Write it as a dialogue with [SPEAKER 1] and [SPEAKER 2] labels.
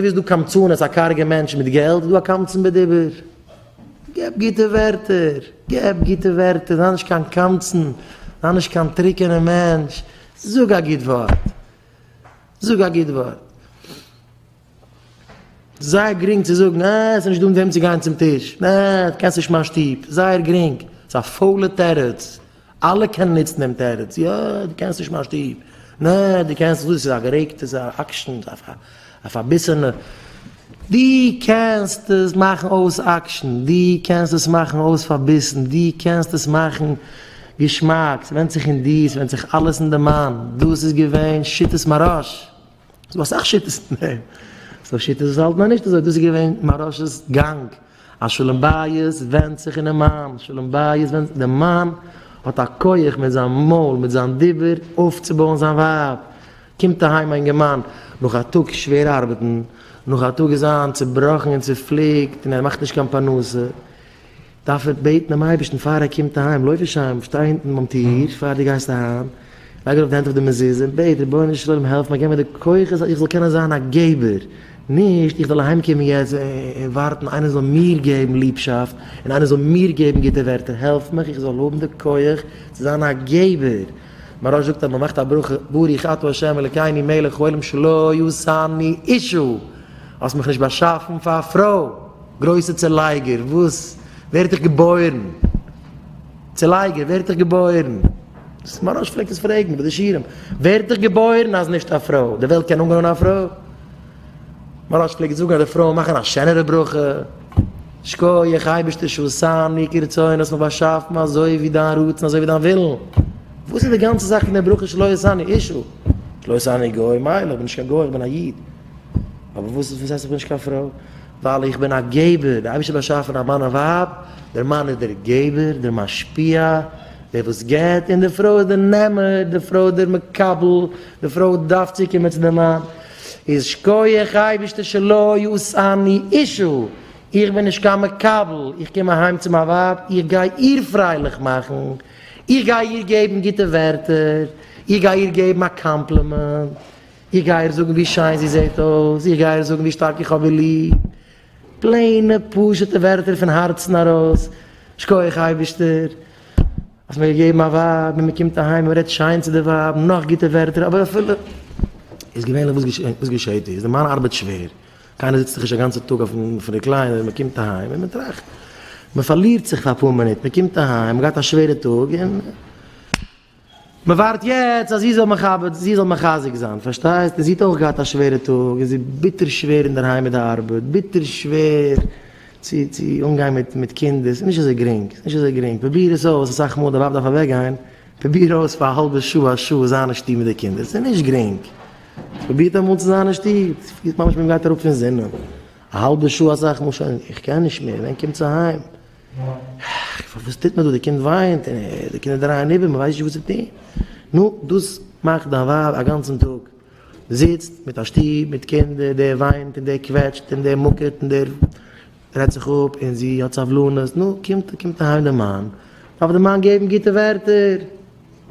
[SPEAKER 1] ווי איז דא קמצנות, א קארגע מענטש מיט געלט, איז דא א קמצן בדיבור. געב גוטע ווערטער, געב גוטע ווערטער, זיי נישט קיין קמצן, זיי נישט קיין טרוקענע מענטש, זאג א גוט ווארט, זאג א גוט ווארט. זייער גרינג צו זאגן, אה, עס איז נישט דא מיט וועם צו גיין צום טיש, אה, דו קענסט נישט מיין שטוב, זייער גרינג, ס'איז א פוילע תירוץ. אלע קענען נוצן דעם תירוץ, יא, דו קענסט נישט מיין שטוב, נע, דו קענסט נישט דאס, ס'איז א גערעגטע זאך, אקשן, א פארביסענע, דו קענסט עס מאכן אויס אקשן, דו קענסט עס מאכן אויס פארביסן, דו קענסט עס מאכן געשמאק, ס'ווענדט זיך אין דיר, ס'ווענדט זיך אלעס אין די מיינד, דאס איז געווען שיטת מהרש. ס'איז דא אסאך שיטות אין דעם, ס'דא שיטות וואס האלטן אז נישט אזוי, דאס איז געווען מהרש'ס גאנג, אז שלום בית ווענדט זיך אינעם מאן, שלום בית ווענדט, די מאן האט א כח מיט זיין מויל, מיט זיין דיבור אויפצובויען זיין ווייב, קומט אהיים א אינגערמאן נאך א טאג שווער ארבעטן, נאך א טאג איז זיין צובראכן און צופליקט און ער מאכט נישט קיין פרנסה, דארף ער בעטן דעם אייבערשטן פאר ער קומט אהיים, לויף נישט אהיים, שטיי אונטן ביים טיר פאר דו גייסט אהיים, לייג ארויף די הענט אויף די מזוזה און בעט, רבונו של עולם העלף מיר, געב מיר די כוחות אז איך זאל קענען זיין א געבער, נישט איך זאל אהיימקומען יעצט און ווארטן איינער זאל מיר געבן ליבשאפט און איינער זאל מיר געבן גוטע ווערטער, העלף מיך איך זאל האבן די כח צו זיין א געבער. מהרש זאגט אז מען מאכט א ברכה, ברוך אתה ה' אלקינו מלך העולם שלא עשני אישה, האסט מיך נישט באשאפן פאר א פרוי. גרויסע צעלייגער וואס ווערט איך געבוירן? צעלייגער ווערט איך געבוירן? דאס מהרש א פלעגט עס פרעגן ביי די שיעורים, ווערט איך געבוירן אז נישט א פרוי? די וועלט קען אנגענומען א פרוי? מהרש א פלעגט זאגן אז די פרויען מאכן א שענערע ברכה, שקויעך אייבערשטער שעשני כרצוני האסט מיך באשאפן אזוי ווי דיין רצון אזוי ווי דיין ווילן, וואס איז די גאנצע זאך פון די ברכה שלא עשני אישה? שלא עשני גוי, מילא איך בין נישט קיין גוי איך בין א איד, אבער וואס איז וואס הייסט איך בין נישט קיין פרוי? ווייל איך בין א געבער, דער אייבערשטער האט באשאפן א מאן און ווייב, דער מאן איז דער געבער, דער משפיע, דער וואס געבט, און די פרוי איז דער נעמער, די פרוי איז דער מקבל, די פרוי דארף צוקומען צו דעם מאן, איז שקויעך אייבערשטער שלא יאסרני אישה, איך בין נישט קיין מקבל, איך קום אהיים צו מיין ווייב, איך גיי איר פרייליך מאכן, איך גיי איר געבן גוטע ווערטער, איך גיי איר געבן א קאמפלימענט, איך גיי איר זאגן ווי שיין זי זעט אויס, איך גיי איר זאגן ווי שטארק איך האב איר ליב, פלעינע פשוט'ע ווערטער פון הארצן ארויס, שקויעך אייבישטער האסט מיר געגעבן א ווייב, און מען קומט אהיים און מען רעדט שיין צו די ווייב און נאך גוטע ווערטער, אבער אפילו איז געווענליך וואס געשעהט איז, די מאן ארבעט שווער, קיינער זיצט דאך נישט א גאנצע טאג אויפן ריקליינער, און מען קומט אהיים און מען טראכט, מען פארלירט זיך פאר אפאר מינוט, מען קומט אהיים, מען האט געהאט א שווערע טאג און. מען ווארט יעצט אז זי זאל מכבד זי זאל מחזק זיין פארשטייסט און זי האט אויך געהאט א שווערע טאג און זי איז ביטער שווער אינדערהיים מיט די ארבעט ביטער שווער צו צו אנגיין מיט מיט קינדער ס'איז נישט אזוי גרינג ס'איז נישט אזוי גרינג פרוביר עס אויס אסאך מאל די ווייב דארף אוועקגיין פרוביר אויס פאר א האלבע שעה א שעה זיין אין שטוב מיט די קינדער ס'איז נישט גרינג פרובירט אמאל צו זיין אין שטוב ס'פילט ממש ווי מען גייט אראפ פון זינען א האלבע שעה אסאך מאל שוין איך קען נישט מער ווען קומטס אהיים. ח ו וואס טוט מען דא? די קינד וויינט און די קינדער דרייען איבער, מען ווייסט נישט וואס צו טון. נו, דאס מאכט דיין ווייב א גאנצן טאג זיצט מיט א שטוב מיט קינדער, דער וויינט און דער קוועטשט און דער מוקעט און דער רעדט זיך אפ און זי האט סבלנות, נו, קומט אהיים די מאן, דארף די מאן געבן גוטע ווערטער.